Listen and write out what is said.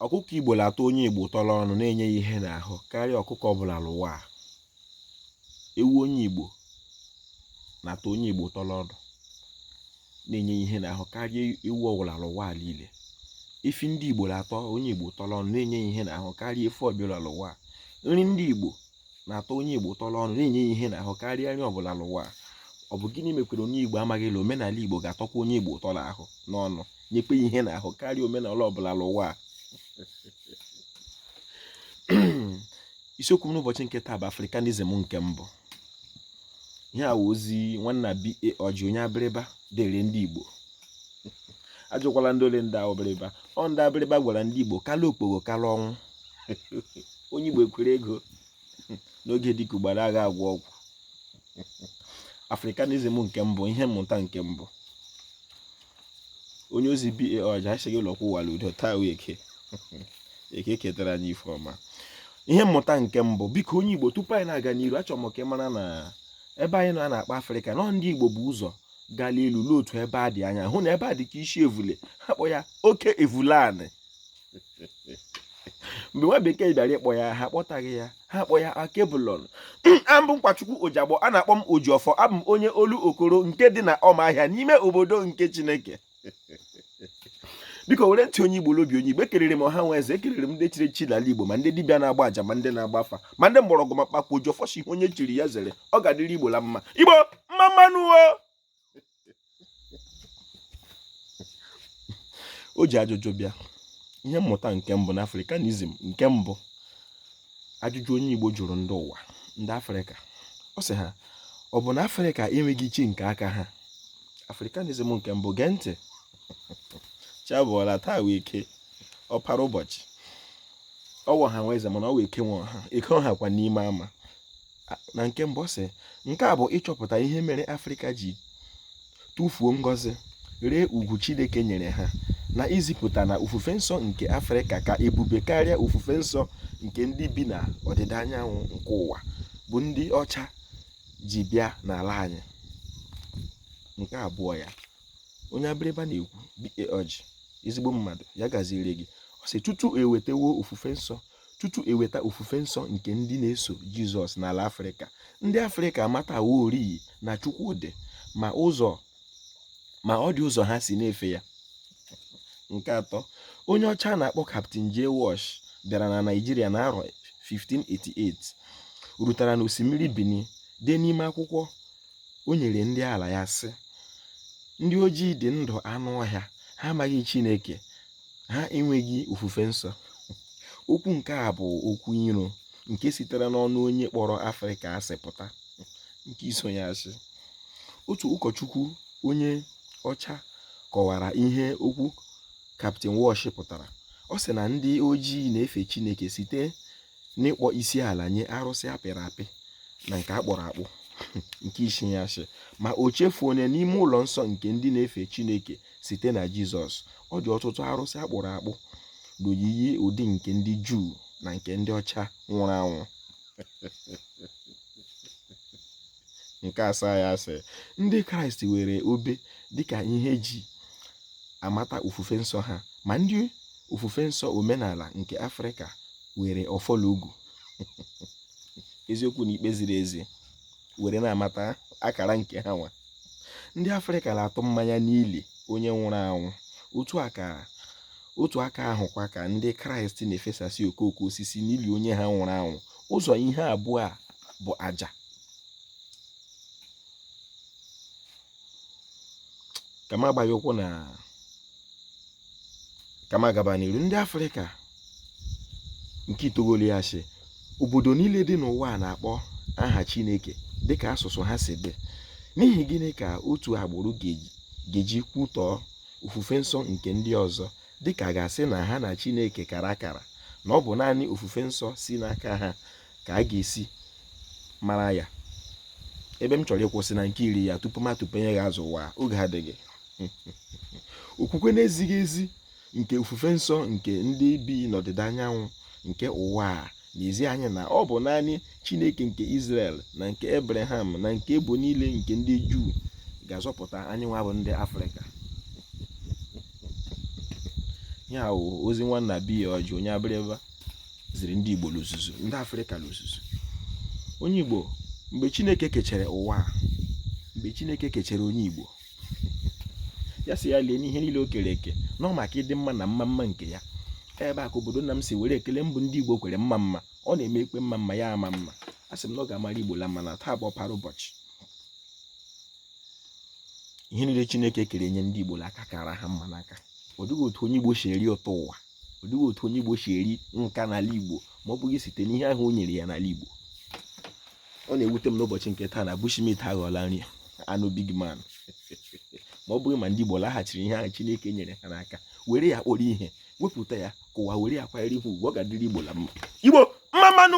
ọkụkọ igbo na-atọ onye igbo ụtọ n'ọnụ na-enye ya ihe n'ahụ karịa ọkụkọ ọbụla n'ụwa a ewu onye igbo na-atọ onye igbo ụtọ n'ọnụ na-enye ya ihe n'ahụ karịa ewu ọbụla n'ụwa a niile efi ndị igbo na-atọ onye igbo ụtọ n'ọnụ na-enye ya ihe n'ahụ karịa efi ọbụla n'ụwa a nri ndị igbo na-atọ onye Igbo ụtọ n'ọnụ na-enye ya ihe n'ahụ karịa nri ọbụla n'ụwa ọ bụ gịnị mekwere onye Igbo amaghị na omenala Igbo ga-atọkwa onye Igbo ụtọ n'ahụ n'ọnụ nyekwa ya ihe n'ahụ karịa omenala ọbụla n'ụwa a isiokwu m n'ụbọchị nke taa bụ Africanism nke mbụ ihe a wụ ozi nwanna B.A. Orji onye abịrịba dere ndị Igbo ajụkwala ndị ole ndị abịrịba ọ ndị abịrịba gwara ndị Igbo kala okpogho kala ọnwụ onye Igbo ekwere ego n'oge dịka ugbara agha agwọ ọgwụ Africanism nke mbụ ihe mmụta nke mbụ onye ozi B.A. Orji esighị ụlọkwụ wara udo taa wụ eke eke ketara anyị ife ọma ihe mmụta nke mbụ biko onye igbo tupu anyị na-aga n'iru achọrọ m ka ị mara na ebe anyị nọ a na-akpọ afrịka na ndị igbo bu ụzọ gala elu n'otu ebe a dị anya hụ na ebe a dị ka isi evule ha kpọ ya oke evulanị mgbe nwa bekee bịara ịkpọ ya ha kpọtaghị ya ha kpọ ya alkebulan abụ m nkwachukwu ojagbo a na-akpọ m ojiọfọ abụ m onye olokoro nke dị na ọma ahịa n'ime obodo nke chineke biko were ntị onye igbo l'obi onye igbo ekelere m ọha nwe eze ekelere m ndị chiri echi n'ala igbo ma ndị dibịa na-agba aja ma ndị na-agba afa ma ndị mgbọrọgwụ ma mkpa akwụkwọ ojiọfọ sị ihe onye chiri ya zere ọ ga-adịrị igbo la mma igbo mma mma nụ o o ji ajụjụ bịa ihe mmụta nke mbụ na africanism nke mbụ ajụjụ onye igbo jụrụ ndị ụwa ndị afrịka ọ sị ha ọ bụ na afrịka enweghị chi nke aka ha africanism nke mbụ gee ntị chi abọọla taa wụ eke ọpara ụbọchị ọ wụ ọha nwe eze mana ọ wụ eke nwe ọha eke ọha kwa n'ime ama na nke mbụ sị nke a bụ ịchọpụta ihe mere afrịka ji tụfuo ngọzi ree ugwu chineke nyere ha na izipụta na ofufe nsọ nke afrịka ka ebube karịa ofufe nsọ nke ndị bi na ọdịda anyanwụ nke ụwa bụ ndị ọcha ji bịa n'ala anyị nke abụọ ya onye abịrịba na-ekwu B.A. Orji ezigbo mmadụ ya gaziere gị ọ sị tutu ewetawo ofufe nsọ tutu eweta ofufe nsọ nke ndị na-eso jizọs n'ala afrịka ndị afrịka amataworị na chukwu dị ma ụzọ ma ọ dị ụzọ ha si na-efe ya nke atọ onye ọcha na-akpọ Captain J. Walsh bịara na Naịjirịa n'arọ 1588 rutara n'osimiri Bini dee n'ime akwụkwọ o nyere ndị ala ya sị ndị ojii dị ndụ anụ ọhịa ha amaghị Chineke ha enweghị ofufe nsọ okwu nke a bụ okwu iro nke sitere n'ọnụ onye kpọrọ Afrịka asị pụta nke iso ya sị otu ụkọchukwu onye ọcha kọwara ihe okwu Captain Walsh pụtara ọ sị na ndị ojii na-efe chineke site n'ịkpọ isi ala nye arụsị a pịrị apị na nke a kpụrụ akpụ nke isii ya sị ma o chefuo na n'ime ụlọ nsọ nke ndị na-efe chineke site na jizọs ọ dị ọtụtụ arụsị a kpụrụ akpụ n'oyiyi ụdị nke ndị juu na nke ndị ọcha nwụrụ anwụ nke asaa ya sị ndị kraịst were obe dịka ihe e ji amata ofufe nsọ ha ma ndị ofufe nsọ omenala nke afrịka were ọfọ l'ogu eziokwu na ikpe ziri ezi were na-amata akara nke ha nwa ndị afrịka na-atụ mmanya n'ili onye nwụrụ anwụ otu aka ahụkwa ka ndị kraịst na-efesasị okooko osisi n'ili onye ha nwụrụ anwụ ụzọ ihe abụọ a bụ aja ka m agbaghị ụkwụ na ka m agaba n'iru ndị afrịka nke itoolu ya sị obodo niile dị n'ụwa a na-akpọ aha chineke dịka asụsụ ha si dị n'ihi gịnị ka otu agbụrụ ga-eji kwutọọ ofufe nsọ nke ndị ọzọ dịka a ga-asị na ha na chineke kara akara na ọ bụ naanị ofufe nsọ si n'aka ha ka a ga-esi mara ya ebe m chọrọ ịkwụsị na nke iri ya tupu m atụpenye gị azụ ụwa oge adịghị okwukwe na-ezighị ezi nke ofufe nsọ nke ndị bi n'ọdịda anyanwụ nke ụwa a na-ezi anyị na ọ bụ naanị Chineke nke Izrel na nke Ebreham na nke ebo niile nke ndị Juu ga-azọpụta anyị nwa bụ ndị Afrịka ya ozi nwanna biya ọjị onye abịrịba ziri ndị Igbo l'ozuzu ndị Afrịka l'ozuzu onye Igbo mgbe Chineke kechere ụwa mgbe Chineke kechere onye Igbo ya sị ya lee n'ihe niile o kere eke na ọ maka ịdị mma na mma mma nke ya ebe a ka obodo nna m si were ekele mbụ ndị Igbo kwere mma mma ọ na-eme ikpe mma mma ya ama mma a sị m na ọ ga-amara Igbo la mma na taa bụ ọpara ụbọchị ihe niile Chineke kere nye ndị Igbo aka kara ha mma n'aka ọ dịghị otu onye Igbo si eri ụtọ ụwa ọ dịghị otu onye Igbo si eri nka n'ala Igbo ma ọ bụghị site n'ihe ahụ o nyere ya n'ala Igbo ọ na-ewute m n'ụbọchị nke taa na bushmeat aghọọla nri anụ big man ma ọ bụghị ma ndị Igbo laghachiri ihe ahụ Chineke nyere ha n'aka were ya kpọrọ ihe wepụta ya ka ụwa were ya kwanyere ihe ugwu ọ ga-adịrị Igbo la mma Igbo mma mma nụ